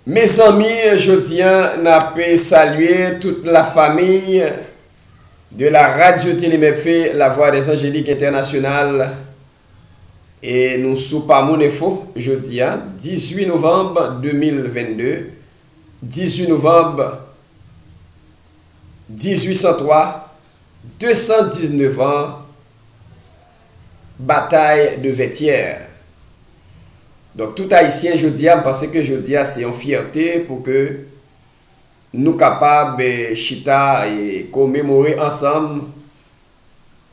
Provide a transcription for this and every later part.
Mezanmi jodi an nap salye tout la famiy de la radio télé mfp la voix des angélique international e nou sou pa moun enfo jodi a 18 novanb 2022 18 novanb 1803 219 ans Batay de Vètyèr Donk tout Ayisyen jodi a, m panse ke jodi a se yon fyète pou ke nou kapab chita e komemore ansanm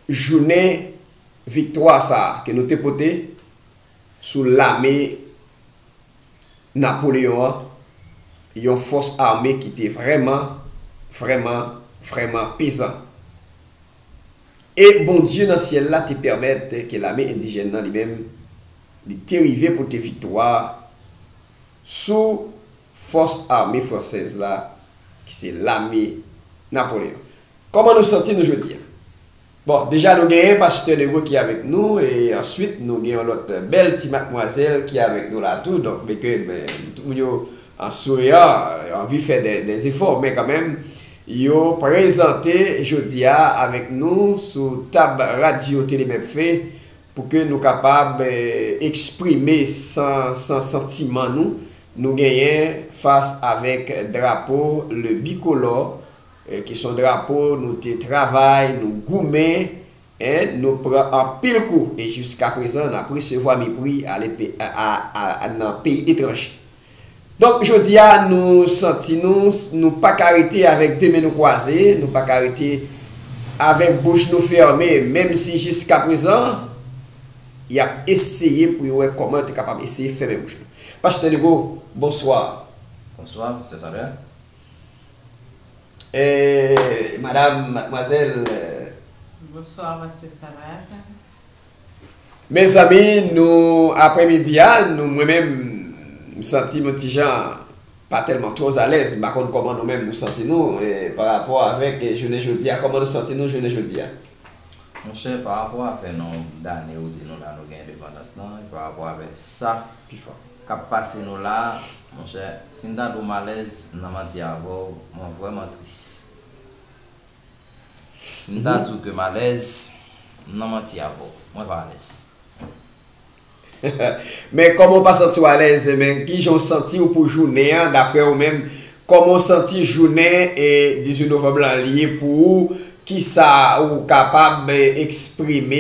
jounen viktwa sa a ke nou te pote sou lame Napoleyon an, yon fòs ame ki te vrèman, vrèman, vrèman pezan. E Bondye nan syèl la te pèmèt ke lame endijèn nan li menm, li te rive pote viktwa sou fòs ame fransèz la, ki se lame Napoleon. Kòman nou santi nou jodi a? Bon, deja nou genyen Pastè Leroy ki avèk nou, e answit nou gen yon lòt bèl ti matmwazèl ki avèk nou la tou, donk beke tout moun yo an souriant, yo anvi fè dè efò, men kanmenm, Yo prezante jodi a avèk nou sou tab radyo Tele Mephe pou ke nou kapab eksprime san san santiman nou nou genyen fas avèk drapo le bikolò ki son drapo nou te travay nou goumen 1 nou pran anpil kou e jiskaprezan n ap resevwa mepri ale p a a nan peyi etranje. Donk jodi a nou santi nou nou pa ka rete avèk 2 men nou kwaze, nou pa ka rete avèk bouch nou fèmen menm si jiskaprezan y ap eseye pou yo wè kòman yo te kapab eseye fèmen bouch nou. Pastè Legault, bonswa. Bonswa, Pastè Samuel. Eeeeh madame mademoiselle. Bonsoir Monsieur Samad. Mezanmi nou aprè midi a nou mwen menm m santim yon ti jan pa tèlman trop alèz m pa konn kòman nou menm nou santi nou pa rapò avèk jounen jodi a kòman nou santi nou jounen jodi a. Monchè pa rapò a fè non dane ou di nou la nou gen endepandans lan e pa rapò avè sa kap pase nou la monchè sim ta diw malèz m nan manti avèw mwen vrèman tris sim ta diw ke malèz m nan manti avèw mwen pa alèz. Men kòm ou pa santiw alèz men kijan ou santiw pou jounen an daprè ou menm Kòman w santi jounen 18 novanm lan ye pou ou? Kisa ou kapab eksprime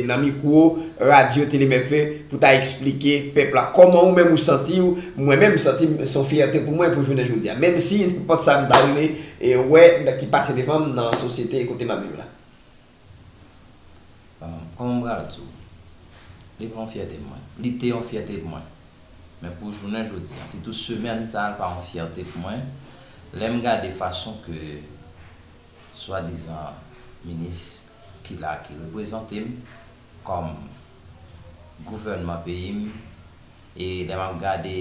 nan mikwo radyo Tele MF pou ta eksplike pèp la? Kòman ou menm ou santi w? Mwen menm m santi m se yon fyète pou mwen pou jounen jodi a. Menmsi nenpòt sa m ta rive wè ki pase devan m nan sosyete kote m ap viv la. Hum, kòman m pral di w? Li pa yon fyète pou mwen. Li te yon fyète pou mwen. Men pou jounen jodi an, sitou semèn sa a l pa yon fyète pou mwen, lè m gade fason ke swadizan minis ki la a ki reprezante m kòm gouvènman peyi m e lè m ap gade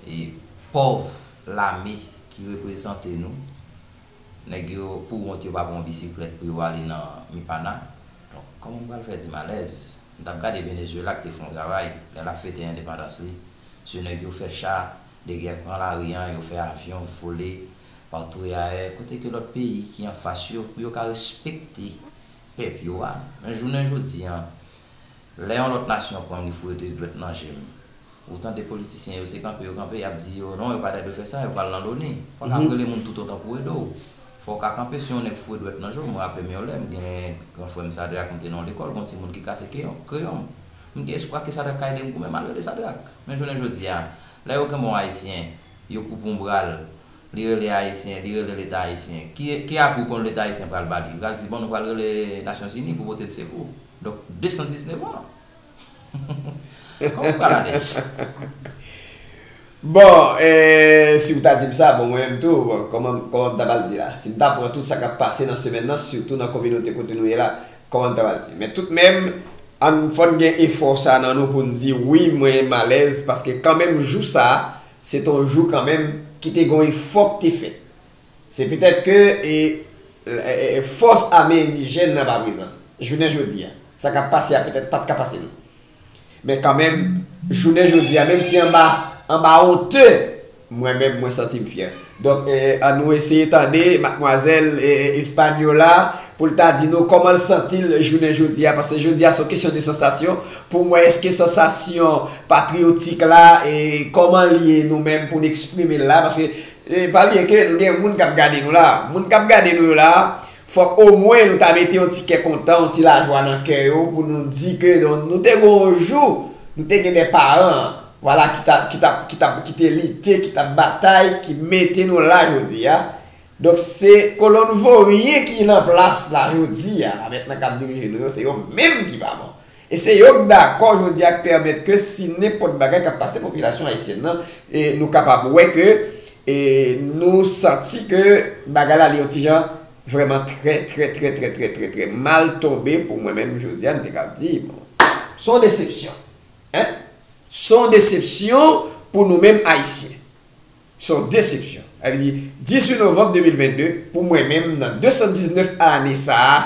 e pòv lame ki reprezante nou nèg yo pou wont yo pa pran yon bisiklèt pou yo ale nan mipana donk kòman m pral fè di m alèz m t ap gade Venezuela k te fè yon travay lè l ap fete endepandans li sou nèg yo fè cha de gè pran lari an yo fè avyon vole patou e ayè kote ke lòt peyi ki anfas yo pou yo ka respekte pèp yo a men jounen jodi an. Lè yon lòt nasyon pranm li foure tris dwèt nan jem. Ou tande politisyen yo se kanpe yo kanpe yap di yo non yo pata dwe fè sa yo pral nan loni. Paka ap rele moun tout otan pou ede w. Fò w ka kanpe si yon nèg foure dwèt nan je w mwen raple m yon lè m gen gran frè m Sadrak m te nan yon lekòl gon timoun ki kase kreyon m m gen espwa ke Sadrak ka ede m goumen mal rele Sadrak men jounen jodi a lè yo kenbe yon ayisyen yo koupe yon bra l li rele ayisyen li rele leta ayisyen ki ki apwi w konn leta ayisyen pral ba li li pral di bon nou pral rele nasyon zini pou pote l sekou. Donk 219 ans? Koman pral alèz? Bon si ou ta dim sa bon mwen menm tou koman m ta pral di la? Si m ta pran tout sa kap pase nan semèn nan sitou nan kominote kote nou ye la koman m ta pral di? Men tout menm ann fòn gen efò sa nan nou poun di wi mwen m alèz paske kanmenm jou sa se t on jou kanmenm ki te gon efò k te fèt Se petèt ke fòs ame endijèn nan pa prezan. Jounen jodi a, sa k ap pase a petèt pa t ka pase nou. Men kanmenm, jounen jodi a, menm si anba onte, mwen menm mwen santi m fyè. Donk, an nou eseye tande matmwazèl Hispaniola pou l ta di nou kòman l santi l jounen jodi a. Paske jodi a se yon kesyon de sansasyon pou m wè èske sansasyon patriyotik la, kòman l ye nou menm pou n eksprime l la. Paske Epa bliye ke nou gen moun kap gade nou la. Moun kap gade nou yo la, fòk omwen nou ta mete yon ti kè kontan, yon ti lajwa nan kè yo pou nou di ke nou te gen yon jou, nou te gen de paran, vwala ki ta, ki ta, ki ta, ki te lite, ki tap batay, ki mete nou la jodi a. Donk se kolonn voryen ki lan plas la jodi a la mèt nan kap dirije nou yo se yo menm ki pa bon. E se yo k dakò jodi a k pèmèt ke si nenpòt bagay k ap pase popilasyon ayisyèn nan, nou kapab wè ke nou santi ke bagay la li yon ti jan vrèman trè trè trè trè trè trè trè mal tonbe pou mwen menm jodi a m te kab di bon s on desepsyon en s on desepsyon pou nou menm ayisyen s on desepsyon sa vle di 18 novanm 2022 pou mwen menm nan 219 ane sa a.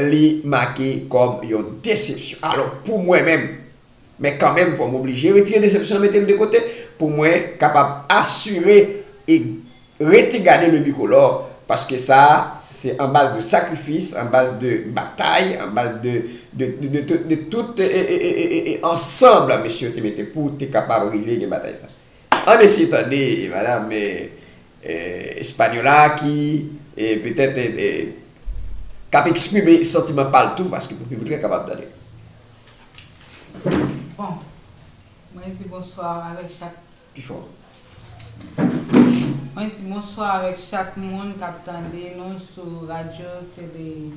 Li make kòm yon desepsyon. Alò, pou mwen menm, men kanmenm fò m oblije retire desepsyon an mete l de kote pou mwen kapab asire e rete gade le bicolore paske sa a se an baz de sakrifis, an baz de batay, an baz de de tout ansanb mesye yo te mete pou te kapab rive gen batay sa a. Ann eseye tande madam Española ki petèt k ap eksprime santiman pa l tou paske pou piblik la kapab tande. Bon, mwen di bonswa avèk chak. Pi fò. Mwen di bonswa avèk chak moun k ap tande nou sou radyo tele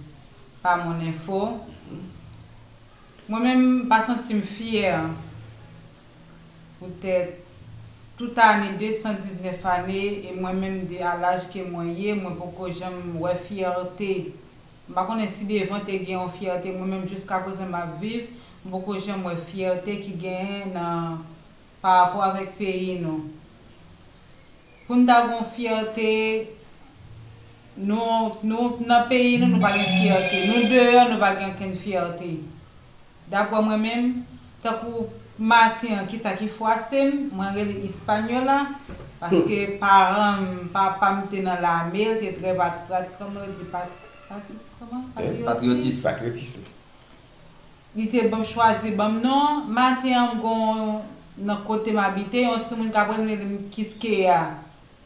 Pamon Enfo. Mwen menm m pa santi m fyè. poutèt tout ane 219 ane e mwen menm de a laj ke mwen ye mwen poko janm wè fyète m pa konnen si devan te gen yon fyète mwen menm jiskaprezan m ap viv m poko janm wè fyète ki genyen nan parapò avèk peyi nou pou n ta gon fyète nou nou nan peyi nou nou pa gen fyète nou deyò nou pa gen okenn fyète. Dapwè mwen menm, tankou maten an kisa ki fwase m, mwen rele Hispaniola, paske paran m, papa m te nan lame, l te trè pat, pat, kòman yo di pat, pati, kòman? Patrioti? Patriotis, patriotisme. Li te ban m chwazi ban m non an, maten an m gon nan kote m abite yon timoun kap rele m Kiskeya.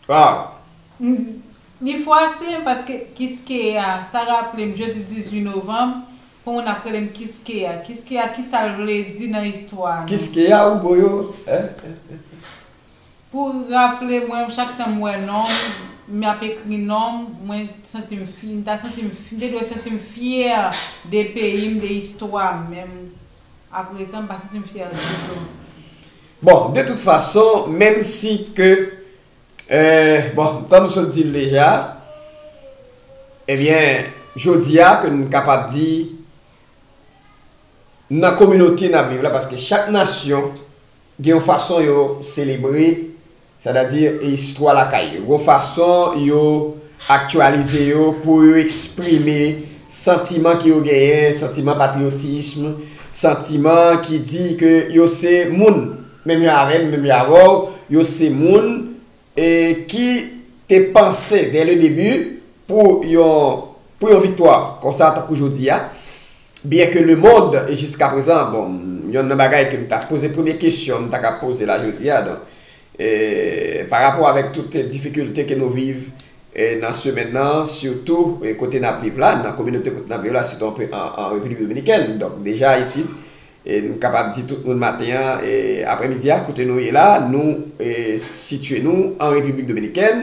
Ah! M di, Li fwase m paske Kiskeya, sa raple m jodi 18 novanm, pou moun ap rele m Kiskeya. Kiskeya kisa l vle di nan istwa a non? Kiskeya ou boyo eh. Pou raple mwen chak tan m wè non m, m ap ekri non m, mwen santi m fye, m ta santi m fye, m te dwe santi m fyè de peyi m, de istwa m, men m aprezan m pa santi m fyè ditou. Bon, de tout fason, menm si ke, bon, kòm m sot di l deja, ebyen, jodi a ke n kapab di, nan kominote n ap viv la, paske chak nasyon gen yon fason yo selebre. Sètadi istwa lakay yo. Gon fason yo aktyalize yo pou yo eksprime santiman ki yo genyen, santiman patriyotism, santiman ki di ke yo se moun, menm jan avè m, menm jan avè w, yo se moun e ki te panse dè le debi pou yon pou yon viktwa konsa tankou jodi a. Byen ke le mond e jiska prezan, bon, yonn nan bagay ke m ta poze premye kesyon m ta ka poze la jodi a, donk, e, pa rapò avèk tout difikilte ke nou viv e nan semèn nan, sitou e kote n ap viv la, nan kominote kote n ap viv la, sitou anpe an, an Repiblik Dominikèn, donk, deja isit, e m kapab di tout moun maten an e aprèmidi a, kote nou ye la, nou e sitye nou an Repiblik Dominikèn,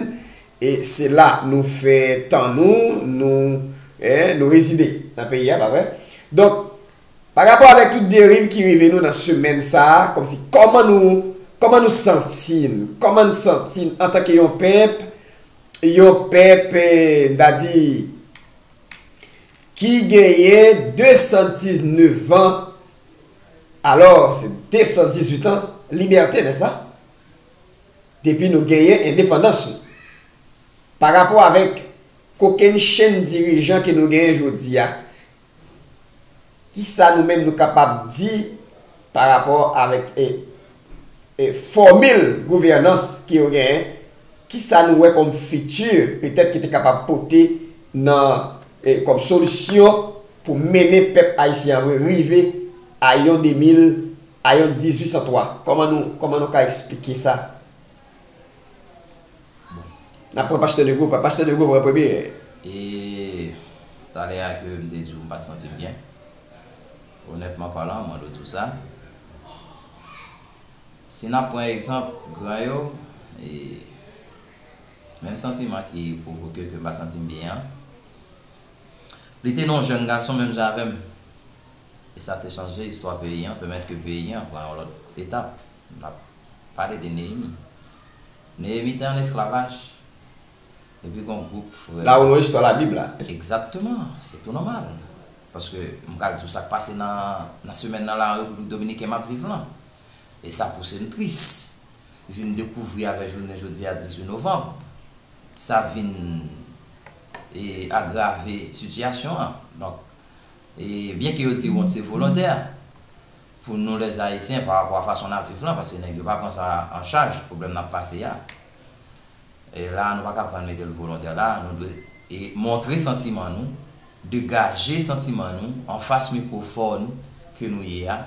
E se la nou fè tan nou, nou eh, nou rezide nan peyi a, pa vre? Donk, pa rapò avèk tout deriv ki rive nou nan semèn sa a, kòmsi kòman nou, kòman nou santi n, kòman n santi n antanke yon pèp, yon pèp eh, m ta di, ki genyen 219 an, alò, se 218 an libète, nèspa? depi nou genyen endepandans nou. Pa rapò avèk kokenn chenn dirijan ke nou genyen jodi a, ki sa nou menm nou kapab di pa rapò avèk fòmil gouvènans ke yo genyen, ki sa nou wè kòm fiti petèt ki te kapab pote nan kòm solisyon pou mennen pèp ayisyen an rive a yon 2000. Ayon 1803, kòman nou kòman nou ka esplike sa? Bon. N ap pran Pastè Nego pran. Pastè Nego pran premye. E, talè a ke m te di w m pa t santi m byen, onètman palan, m mande w tou sa, si n ap pran egzanp gran yo, e, menm santiman ki pwovoke ke m pa santi m byen an, li te nan w jèn gason menm jan avè m, E sa te chanje istwa peyi an, pèmèt ke peyi an pran yon lòt etap. N ap pale de Neyemi. Neyemi te ann esklavaj, epi gen yon gwoup frè. La ou nan istwa Labib la. Egzakteman. Se tou nòmal. Paske, m pral di w sa k pase nan semèn nan la an Repiblik Dominiken m ap viv lan. E sa pouse m tris. Vin dekouvri avè jounen jodi a 18 novanb, sa vin agrave sitiyasyon an. Donk. E byen ke yo di wont se volontè pou nou les Haïtiens pa rapò a fason nap viv lan paske nèg yo pa pran sa an chaj pwoblèm nap pase a. E la nou pa ka pran mete l volontè la nou dwe e montre santiman nou, degaje santiman nou an fas mikwofòn ke nou ye a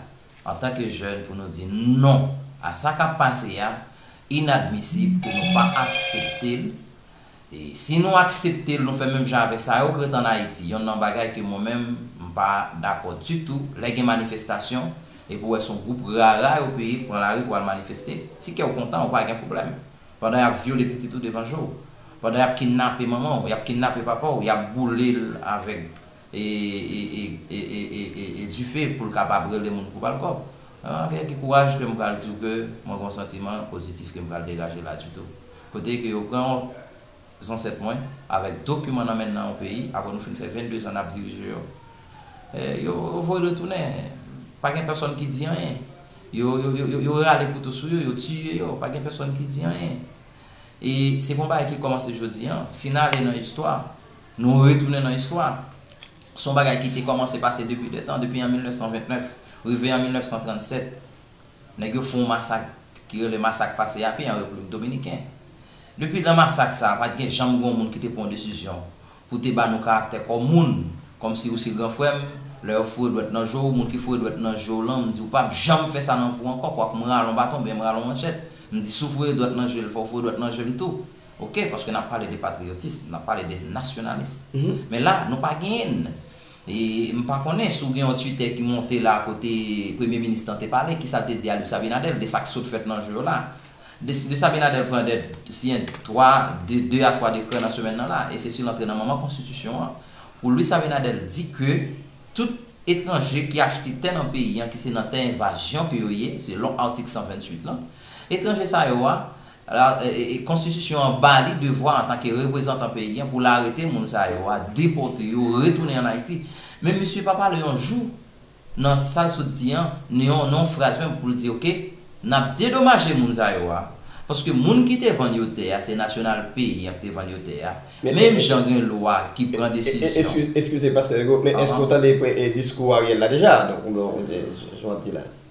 antan ke jèn pou nou di non a sa kap pase a inadmisib ke nou pa aksepte l E si nou aksepte l nou fè menm jan avèk sa yo k ret an Ayiti. Yonn nan bagay ke mwen menm m pa dakò ditou lè gen manifestasyon epi w wè son gwoup rara yo peye k pran lari pou al manifeste. Si kè w kontan ou pa gen pwoblèm. Pandan y ap vyole pitit ou devan je w. Pandan y ap kinnape manman w, y ap kinnape papa w, y ap boule l avèk. e dife pou l kapab rele moun pou ba l kòb. Mwen avè ki kouraj ke m pral di w ke mwen gen yon santiman pozitif ke m pral degaje la ditou. Kote ke yo pran zansèt mwen avèk dokiman nan men nan yon peyi apre nou fin fè 22 zan n ap dirije yo. Yo voye l retounen. Pa gen pèsòn ki di anyen. Yo rale kouto sou yo, yo tiye yo. Pa gen pèsòn ki di anyen. E se pa yon bagay ki kòmanse jodi an. Si n ale nan istwa. Nou retounen nan istwa. Se yon bagay ki te kòmanse pase depi de tan, depi an 1929, rive an 1937, nèg yo fè yon masak ki rele Masak Pase Yapi an Repiblik Dominiken. Depi nan masak sa a, pa t gen janm gen yon moun ki te pran desizyon pou te ba nou karaktè kòm moun, kòm si ou se gran frè m, lè yo foure dwèt nan je w, moun ki foure dwèt nan je w lan, m di w pa p janm fè sa nan vi w ankò, kwak m rale yon baton oubyen m rale yon manchèt, m di si w foure dwèt nan je l, fò w foure dwèt nan je m tou. Ok, paske nap pale de patriotisme, nap pale de nationalisme. Men la, nou pa genyenn. E m pa konnen si w gen yon Twitter ki monte la kote Premye Minis lan te pale, kisa l te di a Luis Abinader de sa k sot fèt nan jou yo la. Luis Abinader pran dè, siyen 3, de 2 a 3 dekrè nan semèn nan la. E se si l antre nan manman konstitisyon an, pou Luis Abinader di ke tout etranje ki achte tè nan peyi an, ki se nan tè envazyon ke yo ye, selon atik 128 lan, etranje sa yo a, Konstitisyon an ba li devwa antanke reprezantan peyi an pou l arete moun sa yo a, depòte yo, retounen ann Ayiti. Men misye pa pale yon jou nan sa l sot di an, ni yon fraz menm pou l di ok, n ap dedomaje moun sa yo a, paske moun ki te vann yo tè a se nasyonal peyi an ki te vann yo tè a, menm jan gen lwa ki pran desizyon. Eskize pastè Hugo, men èske ou tande diskou Ariel la deja? Donk, jan w ap di la.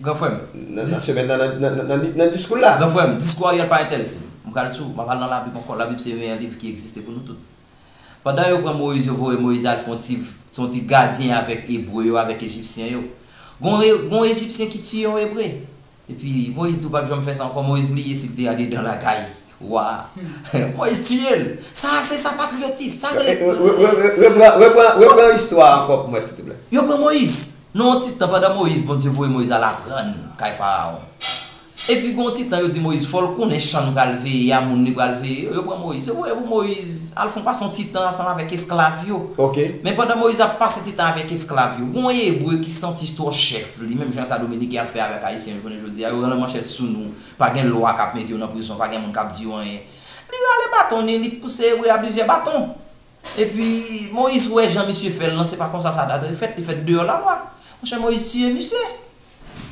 Gran frè m. Nan semèn nan, nan diskou l la. Gran frè m, diskou Ariel pa enterese m. M pral di w, m ap al nan Labib ankò. Labib se meyè liv ki egziste pou nou tout. Pandan yo pran Moyiz, yo voye Moyiz al fè yon ti gadyen avèk Ebre yo, avèk Ejipsyen yo. Gen yon Ejipsyen ki tiye yon Ebre. Epi, Moyiz di w pa p janm fè sa ankò. Moyiz bliye si l te andedan lakay. Wa. Moise tuye l. Sa a se sa patriotism. Sa rele patriotism. Repran, repran istwa a ankò pou mwen silteplè. Yo pran Moïse. Nan yon ti tan pandan Moïse Bondye voye Moïse al aprann kay Faraon. Epi gen yon ti tan yo di Moïse fò l konnen chan l pral veye a, moun li pral veye yo. Yo pran Moïse. Yo voye pou Moïse al fè yon pase yon ti tan ansanm avèk esklav yo. Ok. Men pandan Moïse ap pase ti tan avèk esklav yo, gen yon Ebre ki santi twò chèf li, menm jan sa Dominiken ap fè avèk Ayisyen jounen jodi a, yo rann manchèt sou nou. Pa gen lwa k ap mete yo nan prizon, pa gen moun k ap di yo anyen. Li rale baton li, li pouse Ebre a plizyè baton. Epi, Moyiz wè jan misye fè l lan, se pa konsa sa ta dwe fèt, li fèt deyò lalwa. Monchè, Moyiz tiye misye.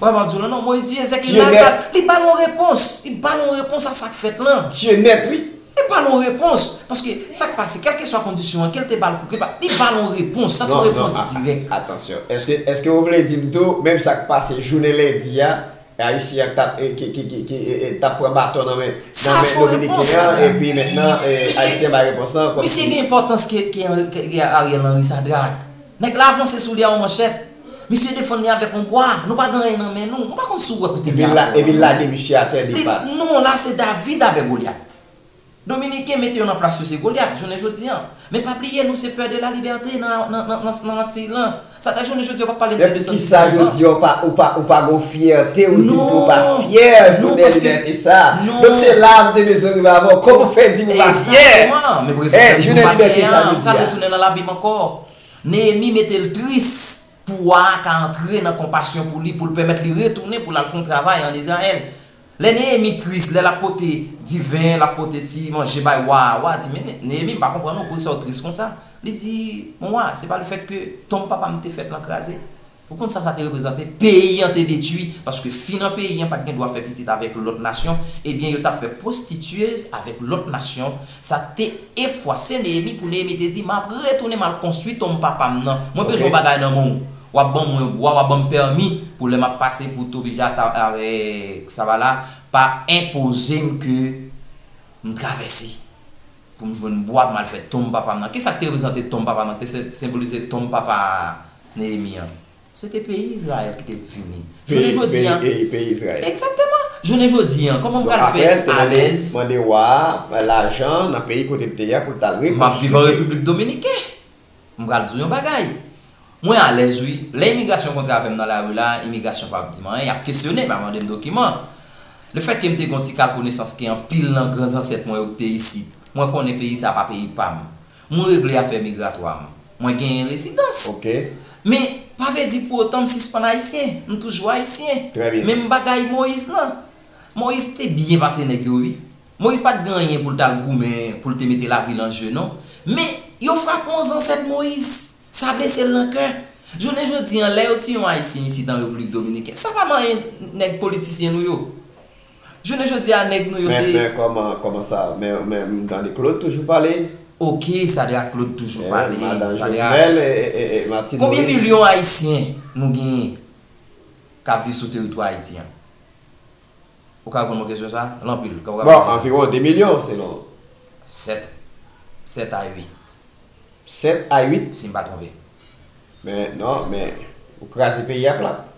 Ou wè m ap di w lan non, Moyiz tiye Zèk, li lage bat, li ba l yon repons, li ba l yon repons a sa k fèt lan. Tiye nèt wi. Li ba l yon repons. Paske, sa k pase, kèlkeswa kondisyon an, ke l te ba l kou, ke l pa, li ba l yon repons. Sa se yon repons dirèk. Non, non, atansyon. Èske, èske ou vle di m tou, menm sa k pase jounen lendi a, E Ayisyen an ki tap pran baton nan men Dominiken an epi mentnan Ayisyen an bay repons lan kòmsi. Misye gen enpòtans ke Ariel Henry sa drak. Nèg la avanse sou li a yon manchèt. Misye defann li avèk yon bwa. Nou pa gen anyen nan men nou. Mwen pa konn si w wè kote m ye avè w la non. Epi l lage misye atè de pat. Non la se David avè Goliath. Dominiken mete yo nan plas yo se Goliath jounen jodi an. Men pa bliye nou se pè de la libète nan Antiy lan. Sa ta jounen jodi an ou pap pale m de 217 lan. Men poukisa jodi an ou pa gon fyète ou di m ke ou pa fyè jounen libète sa a. Donk se la a m te bezwen rive avè w. Kòman ou fè di m ou pa fyè? Egzakteman. Men brezon fè m di m pa fyè an. M pral retounen nan labib ankò. Neyemi mete l tris pou wa a ka antre nan konpasyon pou li pou l pèmèt li retounen pou l al fè yon travay an Izrayèl. Lè Neyemi tris, lè l ap pote diven, l ap pote ti manje bay wa a, wa a di, Men, Neyemi, m pa konprann non, poukisa w tris konsa? Li di, Mon wa, se pa lefètke tonm papa m te fèt lan kraze? Ou konn sa sa te reprezante? Peyi an te detwi, paske fi nan peyi an pa t gen dwa fè pitit avèk lòt nasyon, ebyen yo t ap fè pwostityez avèk lòt nasyon. Sa te efwase Neyemi pou Neyemi te di, M ap retounen, m al konstwi tonm papa m nan. Mwen bezwen yon bagay nan men w. Wap ban mwen bwa wap banm pèmi pou lè map pase pou Tobijata avèk Savala pa enpozem ke m travèse pou m jwenn bwa pou m al fè tonm papa m nan. Kisak te reprezante tonm papa m nan, ki te senbolize tonm papa Neyemi an? Se te peyi Izrayèl ki te vini. Jounen jodi an. Peyi peyi Izrayèl. Egzakteman! Jounen jodi an kòman m pral fè alèz. Donk aprè l te mande wa a lajan nan peyi kote l te ye a pou l t al rekonstwi. Map viv an Repiblik Dominiken. M pral di w yon bagay, mwen alèz wi. Lè imigrasyon kontre avè m nan lari la, imigrasyon pa p di m anyen. Y ap kesyone m, y ap mande m dokiman. Lefètke m te gen yon ti kal konesans ke anpil nan gran zansèt mwen yo ki te isit, mwen konnen peyi sa a pa peyi pa m. Mwen regle afè migratwa m. Mwen genyen rezidans. Men, pa vle di pou otan m sispann Ayisyen. M toujou Ayisyen. Menm bagay Moïse lan. Moïse te byen pase nèg yo wi. Moyiz pa t gen anyen pou l t al goumen, pou l te mete lavi l an je non. Men, yo frape yon zansèt Moyiz. Sa blese l nan kè. Jounen jodi an, lè yo tiye yon Ayisyen isit an Repiblik Dominiken, sa pa manyen nèg politisyen nou yo. Jounen jodi a, nèg nou yo se. Men, men, kòman sa? Men, men, m tande Klod toujou pale. Ok, Sadra Klod toujou pale. E, madan Jovenel e, e, e, e Martine Moïse. Konbyen milyon Ayisyen nou genyen k ap viv sou teritwa Ayiti an? Ou ka reponn mwen kesyon sa? L anpil. Kòman w ka Bon, konpare? anviwon 2 milyon, selon ou. 7, 7 a 8. 7 a 8? Si m pa twonpe. Men, non, men, ou kraze peyi a plat.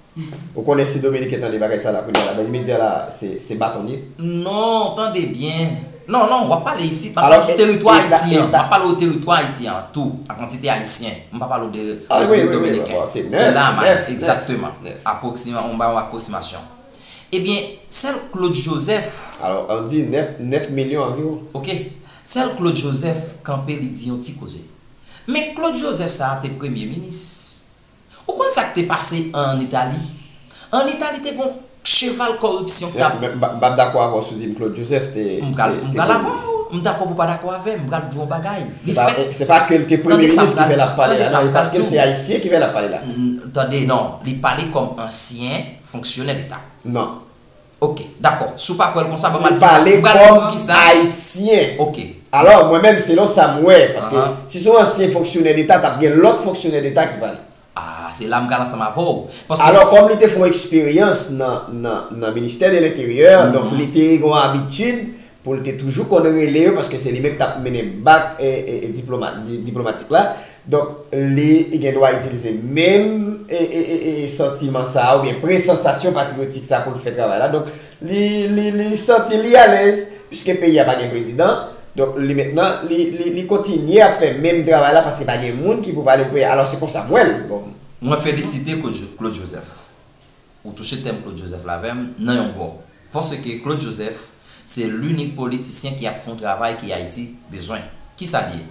Ou konnen si Dominiken tande bagay sa la kounye a la, nan imedya la a, se, se baton li ye. Non, tande byen. Non, non, w ap pale isit, m ap pale sou teritwa Ayiti an. M ap pale w teritwa Ayiti an tou, an kantite Ayisyen. M pa pale w de Repiblik Dominiken. Se la a m ale. Egzakteman. Apwoksiman, m ba w apwoksimasyon. Ebyen, sèl Claude Joseph. Alò, an di 9, 9 milyon anviwon. Ok. Sèl Claude Joseph kanpe li di yon ti koze. Men Claude Joseph sa a te premye minis. Ou konn sa k te pase an Itali? An Itali te gon cheval kòripsyon k t ap. M p ap dakò avè w si w di m Claude Joseph te premye minis. M pral avè w. M dakò pou w pa dakò avè m. M pral di w yon bagay. Li fèt. Se pa ke l te premye minis ki fè l ap pale la. Tande sa m pral di w. Paske l se ayisyen ki fè l ap pale la. Tande, non. Li pale kòm ansyen. fonksyonè leta. Non. Ok. Dakò. Si w pa kwè l konsa, banm Pou pale kòm Ayisyen. Ok. Alò, mwen menm selon sa m wè, paske si se yon ansyen fonksyonè deta, t ap gen lòt fonksyonè deta ki pale. Ah, se la m pral ansanm avè w. Paske. Alò, kòm li te fè yon eksperyans nan, nan, nan ministè de lenteryè, donk li te gen yon abitid Pou l te toujou konn rele yo paske se li menm ki t ap mennen bak diplomatik la. Donk, li gen dwa itilize menm santiman sa a oubyen presansasyon patriyotik sa a pou l fè travay la. Donk, li santi li alèz piske peyi a pa gen prezidan. Donk, li mentnan, li kontinye ap fè menm travay la paske pa gen moun ki pou pale pou peyi a. Alò, se konsa m wè l. Bon, mwen felisite Claude Joseph. Ou touche tèm Claude Joseph la avè m, nan yon bò. Paske Claude Joseph, se linik politisyen ki ap fè yon travay ke Ayiti bezwen. Kisa l ye?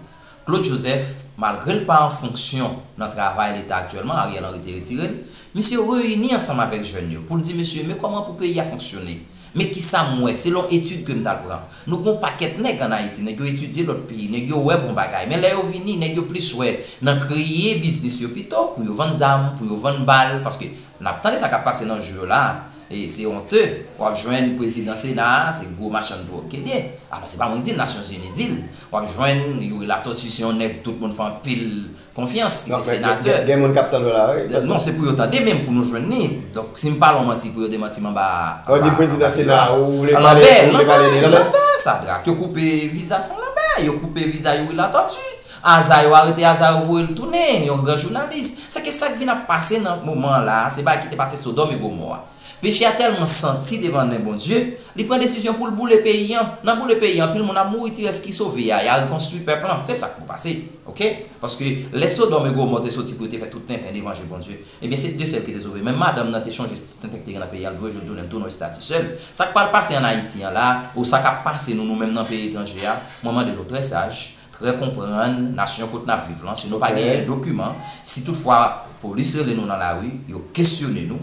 Claude Joseph, malgre l pa an fonksyon nan travay Leta aktyèlman, Ariel Henry te retire l, misye reyini ansanm avèk jèn yo pou l di mesye men kòman pou peyi a fonksyone. Men kisa m wè, selon etid ke m t al pran. Nou gen yon pakèt nèg an Ayiti, nèg yo etidye lòt peyi, nèg yo wè bon bagay. Men lè yo vini, nèg yo plis wè nan kreye biznis yo pito, pou yo vann zam, pou yo vann bal, paske n ap tande sa k ap pase nan jou yo la a, e se onte, w ap jwenn prezidan sena a, se gwo machann dwòg ke l ye. Alò se pa mwen di l, Nasyonzini di l. W ap jwenn Youri Latortue se yon nèg tout moun fè anpil. Konfyans ki te senatè. Gen moun kap tande w la wi. Non se pou yo tande men pou nou jwenn li. Donk si m pale yon manti pou yo demanti m anba anba anba miwa. Lanbè lanbè lanbè sadrak yo koupe viza san lanbè yo koupe viza youri latòti aza yo arete aza yo voye l tounen yon gran jounalis. Sèke sak vin ap pase nan moman an la se bagay ki te pase sodòm e gomò a. Peche a tèlman santi devan nen Bondye, li pran desizyon pou l boule peyi an. Nan boule peyi an, anpil moun ap mouri, ti rès ki sove a, ya rekonstwi pèp lan. Se sa k pou pase. Ok. Paske, lè Sodòm e Gomò te soti pou yo te fè tout tenten devan je Bondye, ebyen se de sèl ki te sove. Men madanm nan te chonje tout tenten ki te gen nan peyi an, li voye joun jounen l tounen yon estati sèl. Sa k pral pase an Ayiti an la a, ou sa k ap pase nou, nou menm nan peyi etranje a, mwen mande nou trè saj, Trè konprann nasyon kot nap viv lan si nou pa genyen dokiman si tout fwa polis rele nou nan lari yo kesyone nou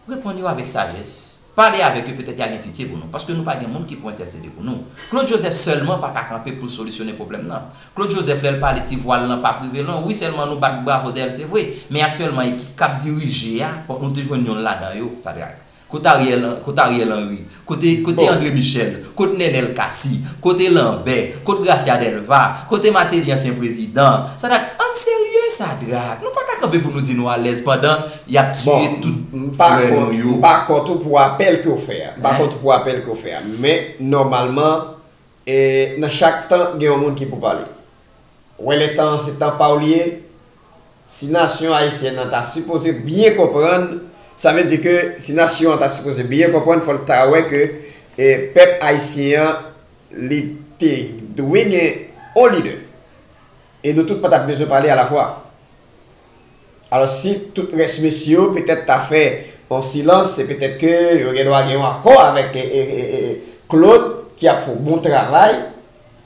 reponn yo avèk sajès pale avèk yo petèt ya gen pitye pou nou paske nou pa gen moun ki pou entèsede pou nou Claude Joseph sèlman paka kanpe poul solisyone pwoblèm nan Claude Joseph lèl pale ti vwal lan pap rive lwen wi sèlman nou bat bravo dèyèl se vre men aktyèlman ekip kap dirije ya fòk nou te jwenn yonn ladan yo Sadrac. Kot Ariel kot Ariel Henry kote kote Andre Michel kot Nenel Cassy kote Lanbè kot Gracia Delva kote Mateli ansyen prezidan Sadrac ann serye Sadrac nou paka kanpe pou nou di nou alèz pandan yap tiye tout frè nou yo. Bon m pa kont ou pou apèl ke w fè a m pa kont ou pou apèl ke w fè a men nòmalman E nan chak tan gen yon moun ki pou pale. Wè lè tan an se tan pa w li ye, si nasyon ayisyèn nan ta sipoze byen konprann, sa vle di ke si nasyon an ta sipoze byen konprann fò l ta wè ke pèp ayisyen an li te dwe gen yon lidè e nou tout pa t ap bezwen pale alafwa. Alos si tout res mesye yo petet ta fè yon silans se petet ke yo gen dwa gen yon akò avek Claude ki ap fon bon travay.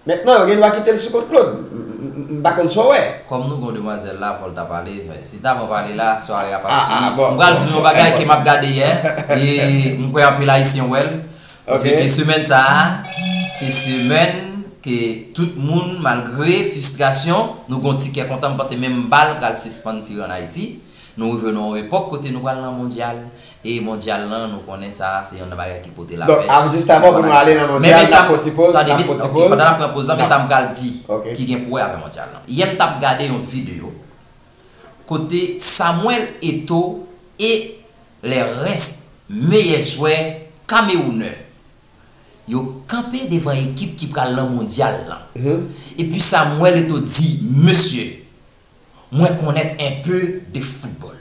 Mentnan yo gen dwa kite l sou kont Claude. M pa konn sa w wè. Kòm nou gen yon demwazèl la fòl ta pale, si ta pa pale la sware a pap fini, m pral di w yon bagay ke map gade yè e m kwè anpil ayisyen wèl, Se ke semèn sa a, se semèn ke tout moun malgre fistrasyon, nou gon ti kè kontan, m panse menm bal pral sispann tire an Ayiti, nou rive nan yon epòk kote nou pral nan mondyal, e mondyal lan nou konnen sa a se yon nan bagay ki pote lapè. Donk jis avan pou nou ale nan mondyal, nap pran ti poz, nap pran ti poz. Pandan nap pran poz lan, men sa m pral di ki gen pou wè avè mondyal lan. Yè m tap gade yon video. kote Samuel Eto'o e le rès meyè jwè kamewounè yo kanpe devan ekip ki pral nan mondyal lan. Epi Samuel Eto'o di, Mesye, mwen konnèt enpe de foutbòl.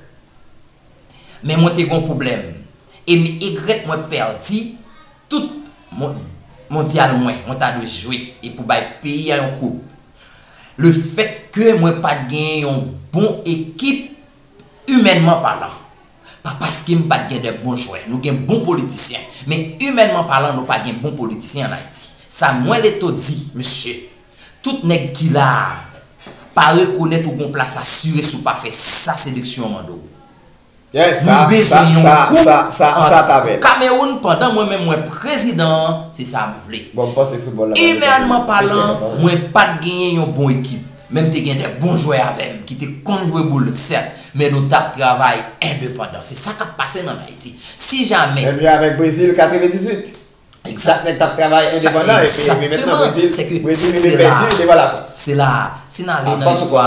Men mwen te gen yon pwoblèm e m egrèt mwen pèdi tout mondyal mwen mwen ta dwe jwe e pou bay peyi a yon koup. Le fèt ke mwen pa t gen yon bon ekip imènman palan. Pa paske m pa t gen de bon jwè. Nou gen bon politisyen. Men imènman palan nou pa gen bon politisyen an Ayiti. Sa mwen Leto di, mesye, tout nèg ki la a pa rekonèt ou gen yon plas asire si w pa fè sa seleksyon an mande w. Nou bezwen yon koup ant Kameroun pandan mwen menm mwen prezidan an se sa m vle. Imènman palan mwen pa t genyen yon bon ekip men m te gen de bon jwè avè m ki te konn jwe boul sèt men nou t ap travay endepandan se sa k ap pase n ann Ayiti si jamè. Exact nèg tap travay endepandan epi epi mètnan Brezil Brezil rive pèdi devan la Frans. Se la si n ale nan istwa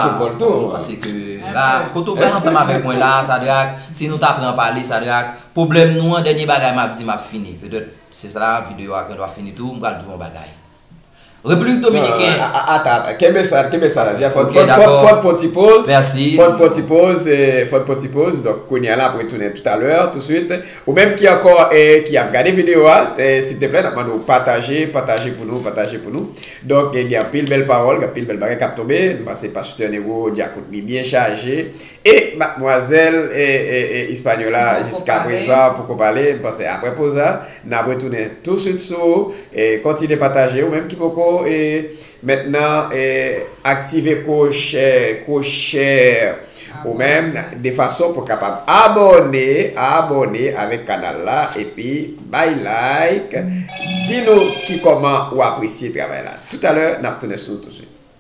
pase ke la kote ou pral ansanm avèk mwen la Sadrac si nou ta pran pale Sadrac pwoblèm nou an dènye bagay m ap di m ap fini petèt se la videyo a gendwa fini tou m pral di w yon bagay Repiblik Dominiken. Non, non, ata, ata. Kenbe sa, kenbe sa la. Vya fòt, fòt, fòt, fòt pon ti poz. Mèsi. Fòt pon ti poz, fòt pon ti poz. Donk, kounye a la, apre tounen toutalè, touswit. Ou menm ki ankò e ki ap gade videyo a, e silteplè, n ap mande ou pataje, pataje pou nou, pataje pou nou. Donk, gen anpil bèl pawòl, gen anpil bèl bagay k ap tonbe. M panse Pastè Nero, Dyakout li byen chaje. E madmwazèl Hispaniola jiska prezan poko pale m panse aprè poz la nap retounen tou swit sou ou kontinye pataje ou menm ki poko met nan aktive kwoche kwoche ou menm de fason pou kapab abòne abòne avèk kanal la epi bay like di nou ki kòman ou apresye travay la toutalè nap tounen sou ou tou swit.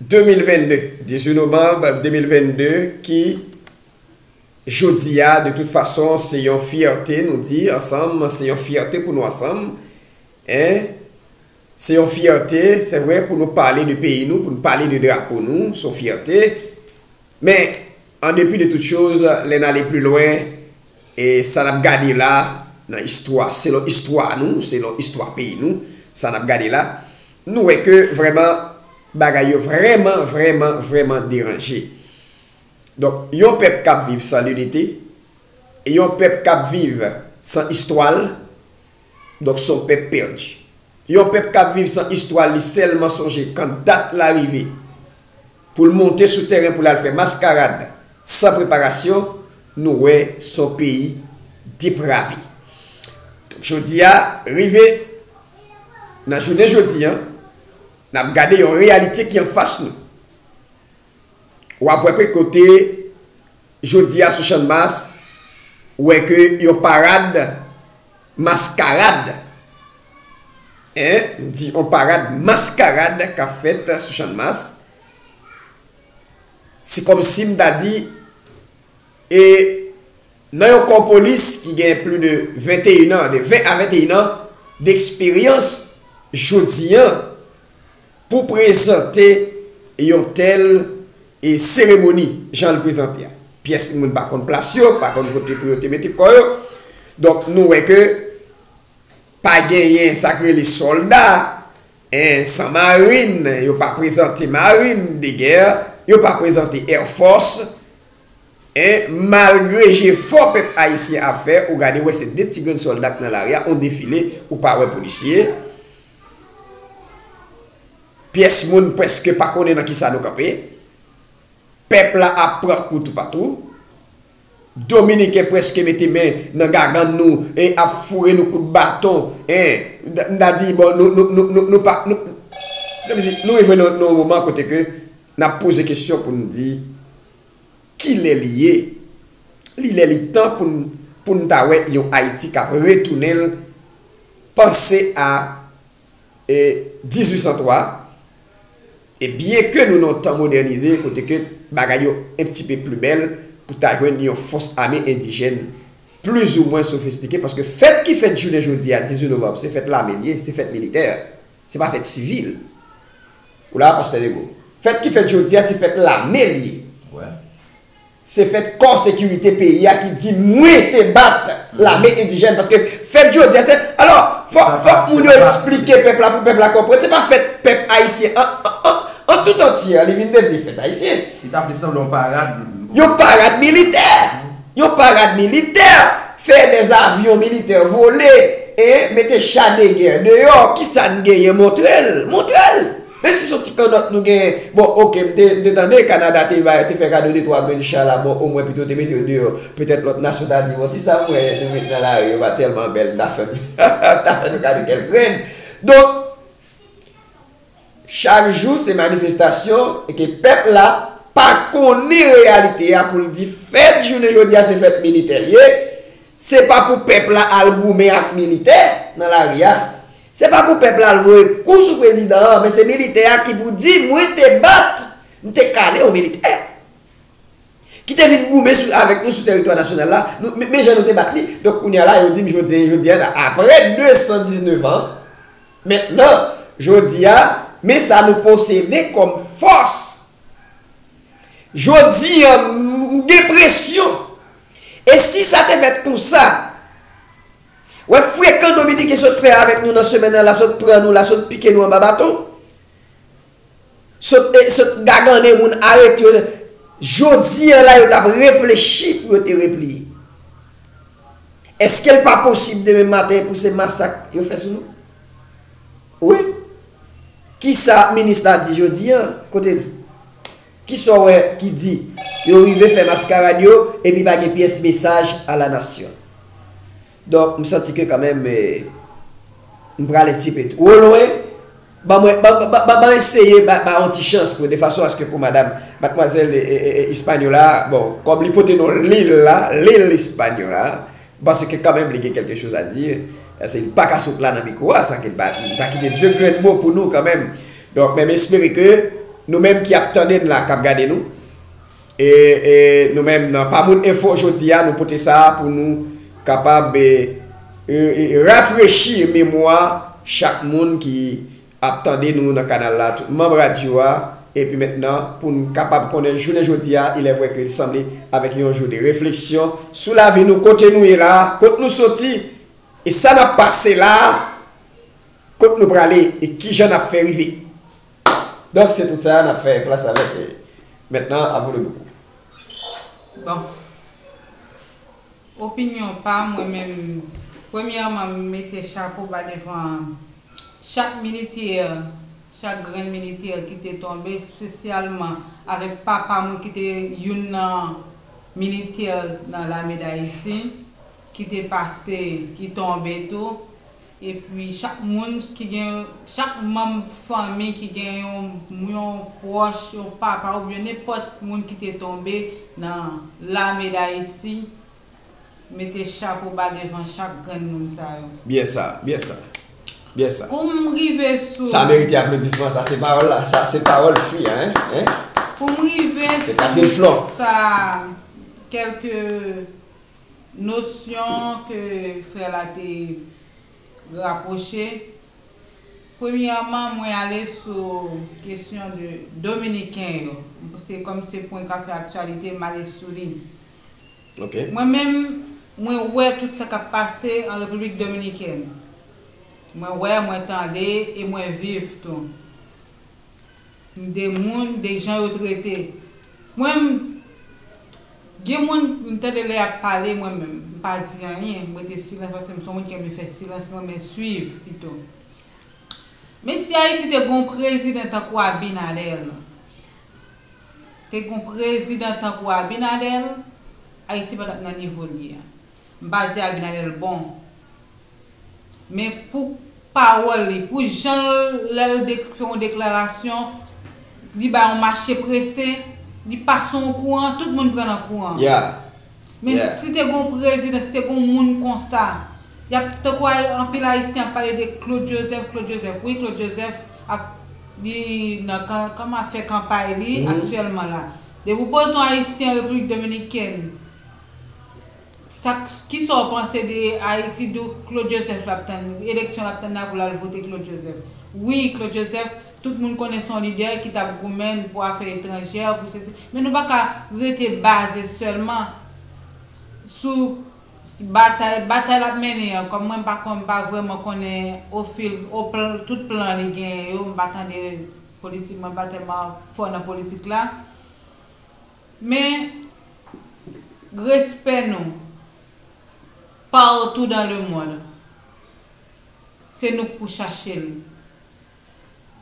2022, 18 novanb 2022 ki Jodi a de tout fason se yon fyète nou di ansanm se yon fyète pou nou ansanm en se yon fyète se vre pou nou pale de peyi nou pou nou pale de drapo nou se yon fyète men an depi de tout choz lè n ale pli lwen e sa n ap gade la nan istwa selon istwa nou selon istwa peyi nou sa n ap gade la Nou wè ke vrèman bagay yo vrèman vrèman vrèman deranje. Donk yon pèp k ap viv san linite, yon pèp k ap viv san istwa l, donk s on pèp pèdi. Yon pèp k ap viv san istwa l li sèlman sonje kan dat la rive. Pou l monte sou tèren pou l al fè maskarad san preparasyon, nou wè s on peyi deprave. Donk jodi a, rive nan jounen jodi an, n ap gade yon reyalite ki an fas nou. W ap wè kèk kote jodi a sou Channmas, ou wè ke yon parad. Maskarad! Ee, m di yon parad maskarad k ap fèt sou Channmas. Se kòmsi m ta di, e nan yon kò polis ki gen pli de 21 an, de 20 a 21 an, deksperyans, jodi an, Pou prezante yon tèl seremoni, jan l prezante a, pyès moun pa konn plas yo, pa konn kote pou yo te mete kò yo. Donk nou wè ke pa genyen sa k rele sòlda, san marin, yo pa prezante marin de gè, yo pa prezante èfòs. Malgre jefò pèp ayisyen ap fè, ou gade wè se de ti grenn sòlda k nan lari a, yon defile ou pa wè polisye. Pyès moun prèske pa konnen nan kisa nou kanpe. Pèp la ap pran kou toupatou. Dominiken prèske mete men nan gagann nou e ap foure nou kout baton e m ta di bon nou pa nou rive nan yon moman kote ke n ap poze kesyon pou n di. Ki lè li ye? Li lè li tan pou n pou n ta wè yon Ayiti k ap retounen l panse a 1803 e byen ke nou nan tan modènize kote ke bagay yo en pti pe pli bèl pou ta jwenn yon fòs ame endijèn plizoumwen sofistike paske fèt ki fèt jounen jodi a 18 novanb se fèt lame l ye se fèt militè. Se pa fèt sivil. Ou la pastè Legaud. Fèt ki fèt jodi a se fèt lame li ye. Se fèt kò sekirite peyi a ki di mwen te bat lame endijèn paske fèt jodi a se alò fòk moun yo eksplike pèp la pou pèp la konprann se pa fèt pèp ayisyen an tout antye li vin devni fèt ayisyen. Li ta plis sanble yon parad. Yon parad militè. Yon parad militè, fè des avions militaires voler hein, mete cha de gè deyò, kisa n genyen montre l, montre l! Menm si son ti kannòt nou genyen, bon ok m te m te tande Kanada te bay te fè kado de twa grenn cha la bon omwen pito te mete yo deyò, petèt lòt nasyon ta di bon ti sa m wè nou met nan lari yo pa tèlman bèl m ta fè m ta fè nou kado kèk grenn. Donk. Chak jou se manifestasyon e ke pèp la pa konnen reyalite a pou l di fèt jounen jodi a se fèt militè l ye, se pa pou pèp la al goumen ak militè nan lari a, se pa pou pèp la al voye kou sou prezidan an men se militè a ki pou di mwen te bat, m te kale yon militè ki te vin goumen sou avèk nou sou teritwa nasyonal la, men jan nou te bat li. Donk kounye a la yo di m jodi a apre 219 an. Mentnan, jodi a, men sa nou posede kòm fòs. Jodi a, m gen presyon. E si sa te fèt konsa? Wè frekan Dominiken sot fè avèk nou nan semèn nan la sot pran nou la sot pike nou anba baton. Sot e sot gagane moun arete yo Jodi an la yo tap reflechi pou yo te repliye Eskel pa posib demen maten pou se masak yo fè sou nou Wi Kisa minis la di jodi an kote l Kisa w wè ki di yo rive fè maskarad yo epi pa gen pyès mesaj a la nasyon. Donk m santi ke kanmenm m prale tipe two lwen, ban mwen ban eseye ba yon ti chans pou de fason aske pou madam matmwazèl Hispaniola a bon kòm li pote non lil la, Lil Hispaniola a, m panse ke kanmenm li gen kèlke choz a di, paske li paka sot la nan mikwo a san ke li pa kite de grenn mo pou nou kanmenm. Donk men m espere ke nou menm ki ap tande n la, k ap gade nou, E nou menm nan Pa Moun Enfo jodi a nou pote sa a pou nou kapab rafrechi memwa chak moun ki ap tande nou nan kanal la, tout manb radyo a, epi mentnan pou n kapab konnen jounen jodi a ilèvwè ke li sanble avèk yon jou de refleksyon sou lavi nou, kote nou ye la a, kot nou soti e sa n ap pase la a, kot nou prale e kijan n ap fè rive. Donk se tout sa a nap fè plas avèk maintenant à vous le micro. Bon, opinyon pa mwen menm premyèman m mete chapo ba devan chak militè, chak grenn militè ki te tonbe espesyalman avèk papa mwen ki te youn nan militè nan lame dayiti ki te pase, ki tonbe tou Epi chak moun ki gen yon, chak manm fanmi ki gen yon, yon pwòch, yon papa oubyen nenpòt moun ki te tonbe nan Lame Dayiti, mete chapo ba devan chak grenn moun sa yo. Byen sa, byen sa. Byen sa. Pou m rive sou. Sa merite aplodisman, sa se pawòl la, sa se pawòl fi a, hein, hein. Pou m rive sou. Se Catherine Flon. Sa, kèlke. Nosyon ke frè la te rapwoche, Premyèman, mwen ale sou kesyon de Dominiken yo. Se kòm se pwen ka fè aktyalite, m ale sou li. Mwen menm, mwen wè tout sa k ap pase an Repiblik Dominikèn. Mwen wè, mwen tande e mwen viv tou. M de moun de jan yo trete mwen m gen moun m tande lè yap pale mwen menm m pa di anyen m rete silans paske m son moun ki renmen fè silans m renmen swiv pito men si ayiti te gon prezidan tankou abinadèl te gon prezidan tankou abinadèl ayiti patap nan nivo l ye a m pa di abinadèl bon. Men pou pawòl li, pou jan l lè l fè yon deklarasyon, li bay yon mache prese, li pase yon kouran, tout moun pran nan kouran. Men si te gen yon prezidan, si te gen yon moun konsa, y ap tankou anpil Ayisyen ap pale de Claude Joseph, Claude Joseph. Wi Claude Joseph ap li nan kan ap fè kanpay li aktyèlman la. Depi w poze yon Ayisyen Repiblik Dominikèn. Sak kisa w panse de Haiti do Claude Joseph lap tann eleksyon lap tann la pou lal vote Claude Joseph wi Claude Joseph tout moun konnen son lidè ki tap goumenn pou afè etranjè pou sesi men nou paka rete baze sèlman sou batay batay lap mennen an kòm mwen m pa kon m pa vrèman konnen o fil o plan tout plan li genyen yo m pa tande politik mwen pa tèlman fò nan politik la. Men respè nou partou dan le mond se nou k pou chache l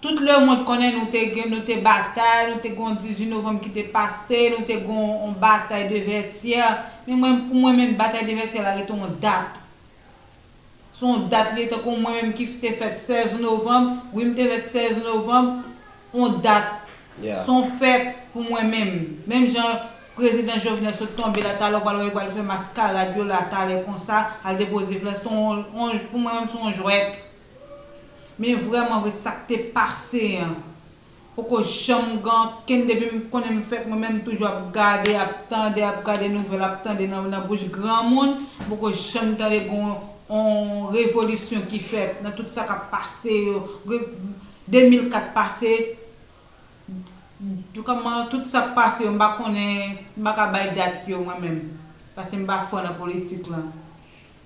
tout le mond konnen nou te gen nou te batay nou te gen yon 18 novanm ki te pase nou te gen yon batay de vètyè men mwen pou mwen menm batay de vètyè la rete yon dat. Se yon dat li ye tankou mwen menm ki te fèt 16 novanm, wi m te fèt 16 novanm, yon dat, se yon fèt pou mwen menm. Menm jan Prezidan Jovenel sot tonbe la talè ou pa wè yo pral fè maskarad yo la talè konsa, al depoze flè, se yon, pou mwen menm se yon jwèt. Men vrèman vre sa k te pase an, Poko janm gen ankenn depim konnen m fèt mwen menm m toujou ap gade ap tande ap gade nouvèl ap tande nan bouch granmoun m poko janm tande gen on revolisyon ki fèt nan tout sa kap pase yo 2004 pase kòman tout sak pase yo m pa konnen m paka bay dat yo mwen menm paske m pa fò nan politik lan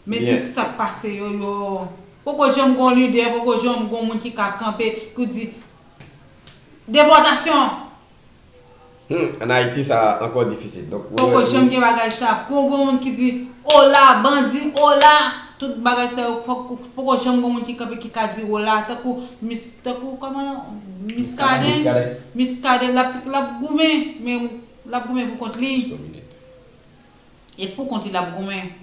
Men tout sak pase yo yo poko janm gon lidè poko janm gon moun ki ka kanpe pou di depòtasyon. Humm an ayiti sa ankò difisil donk ou wè. Poko janm gen bagay sa poko gon moun ki di ola bandi ola tout bagay sa yo fòk poko janm gon moun ki kanpe ki ka di ola tankou mis tankou kòman non miskaden miskaden lap lap goumen men lap goumen pou kont li et pou kont li lap goumen.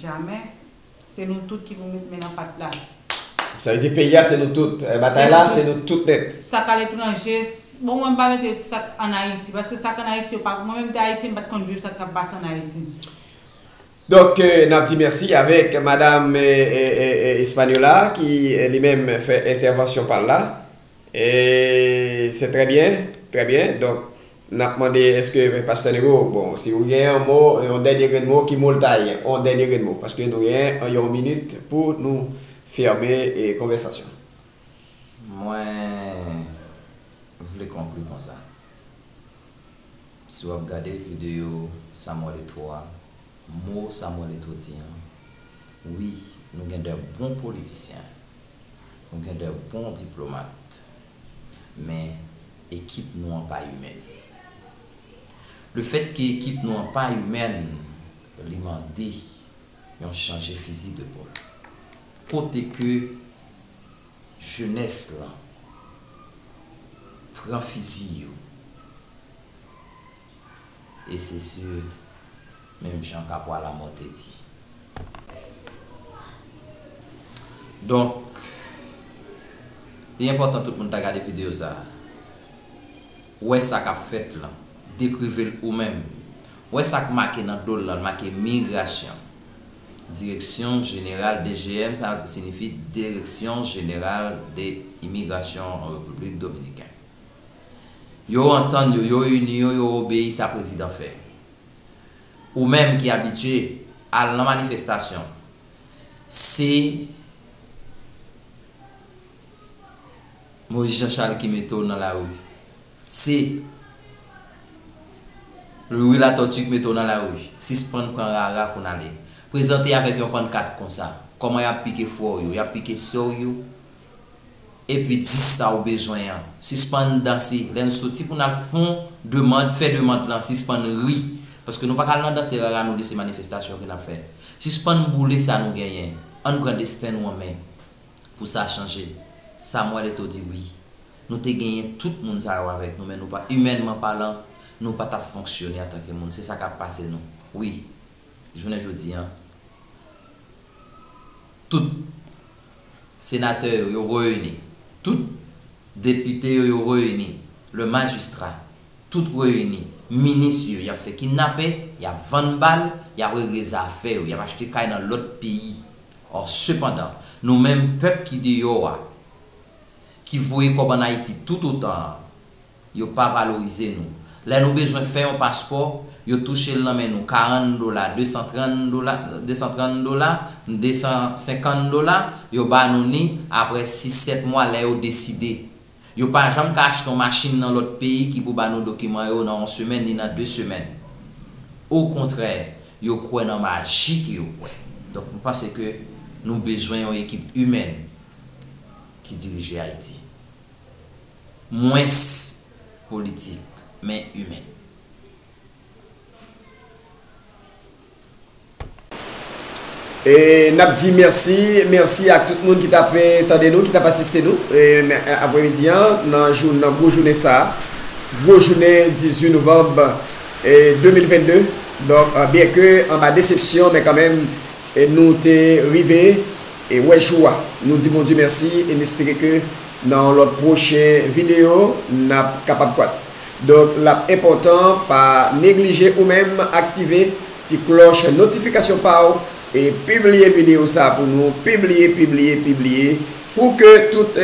Jamè. Se nou tout ki pou met men nan pat la. Sa vle di peyi a se nou tout. Batay la se nou tout nèt. Sa k aletranje, bon mwen m pa mete sa k an Ayiti paske sa k an Ayiti yo pa, mwen menm te Ayityen m pa t konn viv sa k t ap pase an Ayiti. Donk n ap di mèsi avèk madam Espagnola ki li menm fè entèvansyon pa l la. Et c'est très bien très bien donc nap mande eske pastè Nero bon si ou gen yon mo yon dènye grenn mo ki mo l ta ye yon dènye grenn mo paske nou gen yon minit pou nou fème konvèsasyon. Mwen vle konkli konsa. Si wap gade video Samuel Eto'o a. Mo Samuel Eto'o di an, wi, nou gen de bon politisyen, nou gen de bon diplomat, men ekip nou an pa imèn. Le fèt ke ekip nou an pa imèn, li mande yon chanje fizi de pòl. Kote ke jenès lan pran fizi yo? e se sur menm jan Capois la mort te di. Donk li enpòtan tout moun ta gade video sa a. Wè sa kap fèt lan. Dekrive l ou menm. Wè sa k make nan do l lan, l make Migration. Direksyon Jeneral, DGM sa sinifi Direksyon Jeneral de Imigrasyon an Repiblik Dominiken. Yo antann yo, yo ini yo, yo obeyi sa prezidan fè. Ou menm ki abitye al nan manifestasyon, se Moïse Jean Charles ki mete w nan lari, se Louis Latortue ki mete w nan lari, sispann pran rara pou n ale. Prezante avèk yon pannkat konsa, kòman y ap pike frè w yo, y ap pike sè w yo. Epi di sa ou bezwen an. Sispann danse. Lè n soti pou n al fon demand, fè demand lan, sispann ri. Paske nou pa ka al nan danse rara nou li se manifestasyon ke n ap fè. Sispann boule sa nou genyen. An n pran desten nou an men. Pou sa chanje. Samuel Eto'o di wi. Nou te genyen tout moun sa yo avèk nou men nou pa, imènman palan, nou pa t ap fonksyone antanke moun. Se sa k ap pase nou. Wi. Jounen jodi an. Tout. Senatè yo, yo reyini. Tout Depite yo, yo reyini. Le Magistrat, tout reyini. Minis yo, y ap fè kinnapè, y ap vann bal, y ap regle zafè yo, y ap achte kay nan lòt peyi. Ò, sepandan, nou menm pèp ki deyò a, ki voye kòb an Ayiti toutotan an, Yo pa valorize nou. Lè nou bezwen fè yon paspò, yo touche l nan men nou karann dola, desantrann dola, desantrann dola, desansenkann dola, yo ba nou ni apre sis sèt mwa lè yo deside. Yo pa janm ka achte yon machin nan lòt peyi ki pou ba nou dokiman yo nan yon semèn ni nan de semèn. Okontrè, yo kwè nan maji ke yo kwè. Donk m panse ke nou bezwen yon ekip imèn ki dirije Ayiti. mwens politik, men imen. E nap di mèsi, mèsi ak tout moun ki tap tande nou, ki tap asiste nou apremidi an nan gwo jounen sa a, gwo jounen 18 novanm 2022. Donk byenke anba desepsyon men kanmenm nou te rive. E wè jou a. Nou di Bondye mèsi e n espere ke nan yon lòt pwochen videyo n ap kapab kwaze. Donk l ap enpòtan pa neglije ou menm aktive ti klòch notifikasyon pa w e pibliye videyo sa pou nou, pibliye, pibliye, pibliye pou ke tout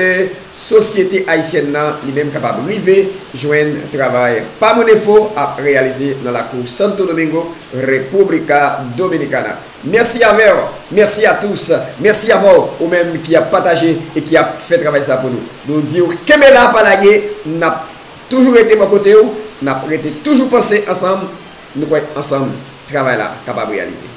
sosyete ayisyèn nan li menm kapab rive jwenn travay Pamodefo ap reyalize nan lakou Santo Domingo, República Dominicana. Merci a vew, merci a tous, merci avèw ou menm ki ap pataje e ki ap fè travay sa pou nou. Nou diw kenbe la pa lage, nap toujou rete bò kotew, nap rete toujou panse ansanm, nou kwè ansanm travay la kapab reyalize.